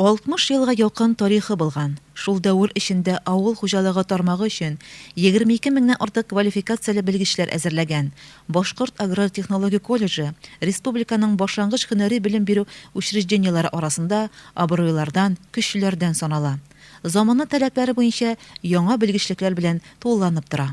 60 елга якын тарихы булган шул дәвер эчендә авыл хуҗалыгы тармагы өчен 22 меңнән артык квалификацияле белгечләр әзерләгән Башкорт аграр-технологик колледжы республиканың башлангыч һөнәри белем бирү учреждениеләре арасында абруйлардан, көчлеләрдән санала. Замана таләпләре буенча яңа белгечлекләр белән тулыланып тора.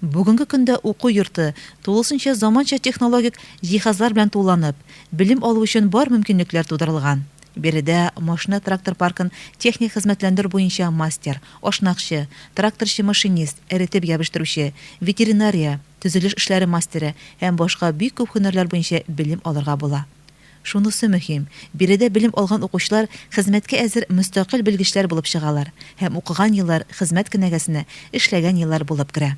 Бүгенге көндә уку йорты, тулысынча заманча технологик җиһазлар белән тулыланып, белем алу өчен бар мөмкинлекләр тудырылган. Биредә машина-трактор паркын техник хезмәтләндерү буенча мастер, ашнакчы, тракторчы-машинист, эретеп ябештыручы, ветеринария, төзелеш эшләре мастеры һәм башка бик күп һөнәрләр буенча белем алырга була. Шунысы мөһим, биредә белем алган укучылар хезмәткә әзер мөстәкыйль белгечләр булып чыгалар һәм укыган еллар хезмәт кенәгәсенә эшләгән еллар булып керә.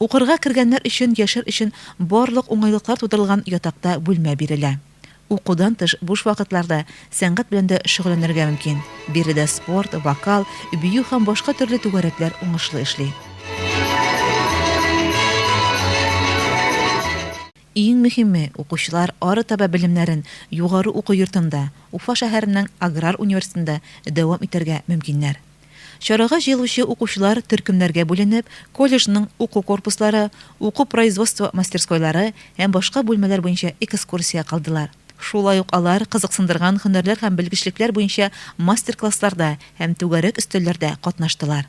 Укырга кергәннәр өчен яшәр өчен барлык уңайлыклар тудырылган ятакта бүлмә бирелә. Укудан тыш буш вакытларда сәнгать белән дә шөгыльләнергә мөмкин, биредә спорт, вокал, бию һәм башка төрле түгәрәкләр уңышлы эшли. Иң мөһиме, укучылар арытаба белемнәрен югары уку йортында, Уфа шәһәренең аграр университетында дәвам итәргә мөмкиннәр. Чарага җыелучы укучылар төркемнәргә бүленеп, колледжның уку корпуслары, уку-производство мастерскойлары һәм башка бүлмәләр буенча экскурсия кылдылар. Шулай ук алар кызыксындырган һөнәрләр һәм белгечлекләр буенча мастер-классларда һәм түгәрәк өстәлләрдә катнаштылар.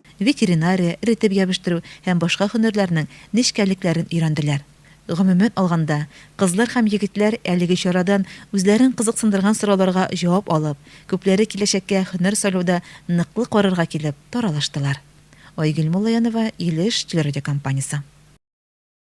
ветеринария, эретеп ябештыру һәм башка һөнәрләрнең нечкәлекләрен өйрәнделәр. Гомумән алганда, кызлар һәм егетләр әлеге чарадан үзләрен кызыксындырган сорауларга җавап алып, күпләре киләчәккә һөнәр сайлауда ныклы карарга килеп, таралыштылар. Айгөл Муллаянова, Илеш телерадиокомпаниясе.